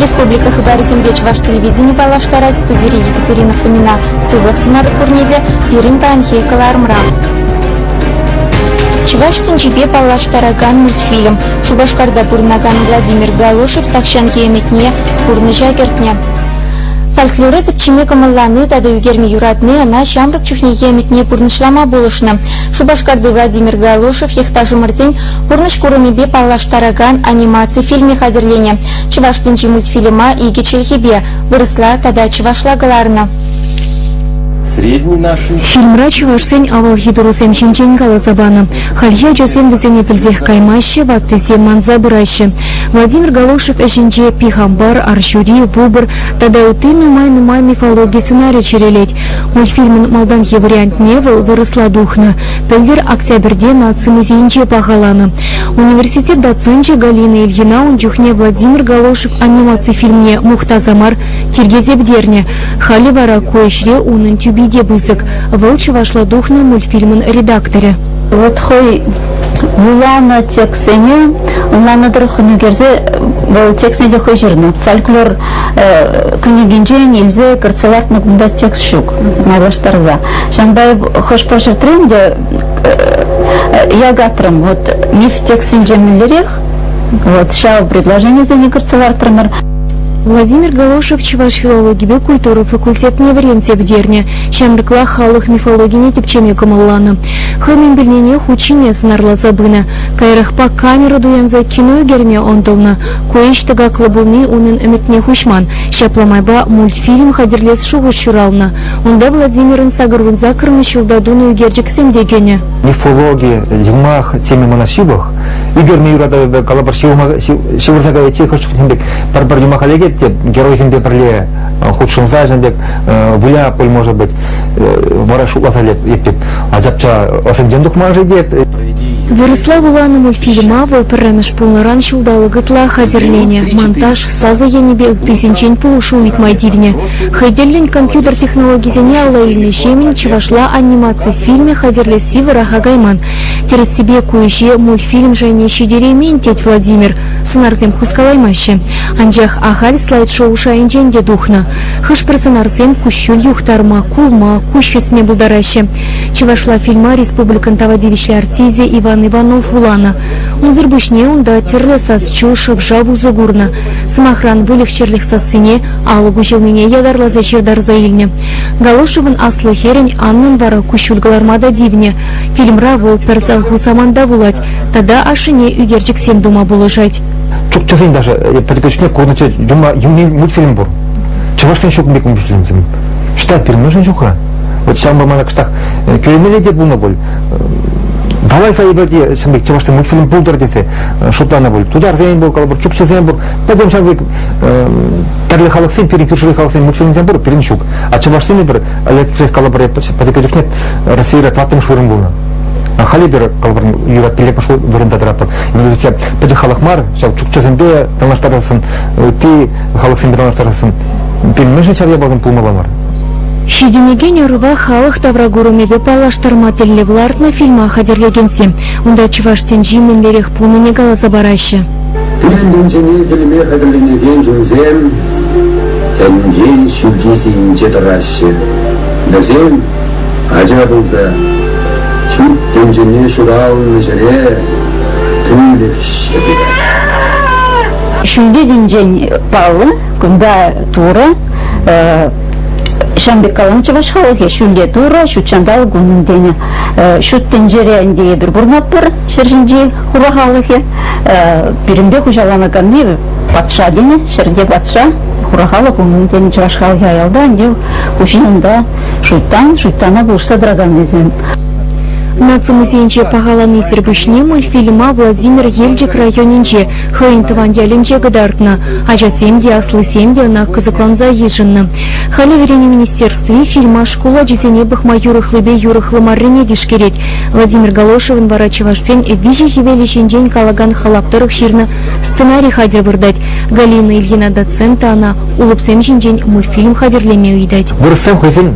Республика хыпарӗсемпе чӑваш телевидени паллаштарать студири Екатерина Фомина. Сывлӑх сунатӑп пурне те пирӗн паянхи кӑларӑмра. Чӑваш тӗнчипе паллаштаракан мультфильм. Шупашкарта пурӑнакан Владимир Галошев тахҫанхи ӗмӗтне пурнӑҫа кӗртнӗ. Фольклора тӗпчеме кӑмӑллани тата ӳкерме юратни ӑна ҫамрӑк чухнехи ӗмӗтне пурнӑҫлама пулӑшнӑ. Шупашкарти Владимир Галушев йӑхташӑмӑрсен пурнӑҫ курӑмӗпе паллаштаракан анимаци фильмӗ хатӗрленӗ. Чӑваш тӗнчи мультфильма икӗ чӗлхепе вырӑсла тата чӑвашла кӑларнӑ. Фильмра чӑвашсен авалхи турӑсем ҫинчен каласа панӑ. Хальхи ачасем вӗсене пӗлсех каймаҫҫӗ, ваттисем манса пыраҫҫӗ. Владимир Галушев ӗҫӗнче Пихампар, Арҫури, Выбор тата ытти нумай-нумай мифологи сценарий чӗрелет. Мультфильмӑн малтанхи вариантне вӑл вырӑсла тухнӑ. Пӗлтӗр Октябрьте наци музейӗнче пахаланӑ. Университет доценчӗ Галина Ильина ун чухне Владимир Галошев анимаци фильмне мухтаса мар тиркесе Халӗ вара ку ӗҫре унӑн тӳпи те пысӑк. Вӑл чӑвашла тухнӑ мультфильмӑн редакторӗ. Вот хӑй вуланӑ текстсене ӑнланнӑ тӑрӑх хӑнӑкерсе вӑл текстсене те хӑй ҫырнӑ. Фольклор кӗнекинчен илсе кӗртсе лартнӑ кунта текст ҫук майлаштарса. Ҫавӑнпа хӑш-пӗр ҫӗртрен те ягатрӑм вот миф текстсенче мӗнлерех вот ҫав предложенисене кӗртсе лартрӑмӑр. Владимир Галошев чӑваш филологипе культура факультетне вӗренсе пӗтернӗ. Ҫамрӑклах халӑх мифологине тӗпчеме кӑмӑлланӑ. Хӑй мӗн пӗлнине хут ҫине сӑнарласа пынӑ. Каярахпа камера туянса кино ӳкерме ӑнтӑлнӑ. Ку ӗҫ тӑкаклӑ пулни унӑн ӗмӗтне хуҫман. Ҫапла майпа мультфильм хатӗрлес шухӑш ҫуралнӑ. Унта Владимирӑн сакӑрвун саккӑрмӗш ҫулта тунӑ ӳкерчӗксем те кӗнӗ. Мифологи, юмах теме мана ҫывӑх. Ӳкерме юратӑвӗпе калӑпӑр ҫывӑрма ҫывӑрса кайиччен хӑш чухне пек пӗр-пӗр юмаха лекет те геройсемпе пӗрле хутшӑнса ҫын пек выля пуль может быть вара шутласа леп эппип а чапча ӑшӗнчен тухма шетет Вырӑсла вуланӑ фильма вӑл пӗрремӗш пулнӑран ҫулталӑк ытла хатӗрленӗ. Монтаж, сасӑ енӗпе ыттисенчен пулӑшу ыйтма тивнӗ. Хӑй тӗллӗн компьютер технологисене алла илнӗ Ҫемӗн чӑвашла анимаци фильмӗ хатӗрлесси вӑраха кайман. Тӗрӗссипе ку ӗҫе мультфильм шайне ҫитереймен, тет Владимир. Сӑнарсем хускалаймаҫҫӗ. Анчах ахаль слайд-шоу шайӗнчен те тухнӑ. Хӑш-пӗр сӑнарсем куҫҫуль юхтарма, кулма, куҫ хӗсме пултараҫҫӗ. Чӑвашла фильма республикӑн тава тивӗҫлӗ артисчӗ Иван Иванов вуланӑ. Унсӑр пуҫне унта тӗрлӗ сас-чӳ, шӑв-шав усӑ курнӑ. Сӑмахран, выльӑх-чӗрлӗх сассине, алӑк уҫӑлнине ятарласа ҫыртарса илнӗ. Галошевӑн аслӑ хӗрӗн Аннан вара куҫҫуль кӑларма та тивнӗ. Фильмра вӑл пӗр сӑлху саманта вулать тата ашшӗне ӳкерчӗксем тума пулӑшать. Чукчасен даже подготовкине курнӑччӗ, юлни мультфильм пур. Чӑвашсен ҫук пек мультфильм. Считать пирӗн мӗншӗн ҫук-ха? Вот ҫавӑнпа мана кӑштах э, кӳренмелле те пулнӑ пуль. Давай-ха эпӗте ҫын пек чӑвашсен мультфильм пултӑр тесе э, шутланӑ пуль. Тутарсен пур, калӑпӑр, чукчӑсен пур. Пӗтӗм ҫав пек тӗрлӗ халӑхсен, пирӗн кӳршӗри халӑхсен мультфильмсем пур, пирӗн ҫук. А чӑвашсен пӗр, электрик, калӑпӑр, пӗтӗккӗ чухне Российра таттӑмӗш вырӑн пулнӑ. А халӗ пир, калӑпӑр, юрат пиллӗкмӗш вырӑнта тӑратпӑр. Вӗсем пӗчӗк халӑх мар, ҫав чукчӑсемпе танлаштарсан, ытти халӑхсемпе танлаштарсан, пирӗн мӗншӗн ҫав япаласем пулмалла мар? Ҫитӗнекен ӑрӑва халӑх тавракурӑмӗпе паллаштарма тӗллев лартнӑ фильма хатӗрлекенсем унта чӑваш тӗнчи мӗнлерех пулнине каласа параҫҫӗ. Пирӗн тӗнчене кӗлме хатӗрленекен чунсем тӗнчен ҫӳлти сийӗнче тӑраҫҫӗ. Вӗсем ача пулса ҫут тӗнчене ҫуралнӑ ҫӗре пӳлӗхҫӗ пырать. Ҫӳлти тӗнчен паллӑ, кунта Турӑ, Ҫан пек каланӑ чӑваш халӑхӗ ҫӳлте Турӑ, ҫут ҫанталӑк унӑн тенӗ. Ҫут тӗнчере ӗнтӗ эпир пурӑнатпӑр, ҫӗр ҫинчи хура халӑхӗ. Пирӗнпе хуҫаланаканни патша тенӗ, ҫӗрте патша, хура халӑх унӑн тенӗ чӑваш халӑхӗ аялта, ӗнтӗ хуҫин унта шуйттан, шуйттана пулӑшса тӑраканнисем. Наци музейӗнче пахаланисӗр пуҫне мультфильма Владимир Елчӗк районӗнче Хӑйӗн тӑван ялӗнче кӑтартнӑ. Ачасем те, аслисем те ӑна кӑсӑкланса йышӑннӑ. Халӗ вӗренӳ министерстви фильма шкул ачисене пӑхма юрӑхлипе юрӑхлӑ маррине тишкерет. Владимир Галошевӑн вара чӑвашсен виҫӗ хӗвелӗ ҫинчен калакан халап тӑрӑх ҫырнӑ сценарий хатӗр выртать. Галина Ильина доцента ӑна улӑпсем ҫинчен мультфильм хатӗрлеме ыйтать. Вырӑссем хӑйсен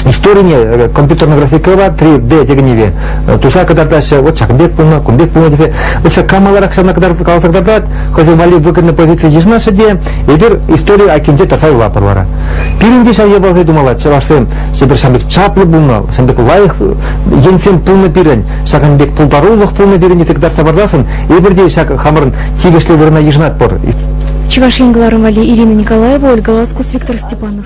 историне э, компьютерная графикӑпа 3D текеневе туса кӑтартаҫҫӗ, вот ҫакӑн пек пулнӑ, кун пек пулнӑ тесе, вот ҫак калаларах ҫавна каласа кӑтартать, хӑйсен валли выгодной позици йышӑнаҫҫӗ те, эпир истори акинче тӑрса юлатпӑр вара. Пирӗн те ҫав япаласем тумалла, чӑвашсем, ҫепӗр ҫам пек чаплӑ пулнӑ, ҫам пек лайӑх енсем пулнӑ пирӗн, ҫакӑн пек пултарулӑх пулнӑ пирӗн тесе кӑтартса парсассӑн, эпир те ҫак хамӑрӑн тивӗҫлӗ вырӑна йышӑнатпӑр. Чӑваш Ен кӑларӑм валли Ирина Николаева, Ольга Ласкус, Виктор Степанов.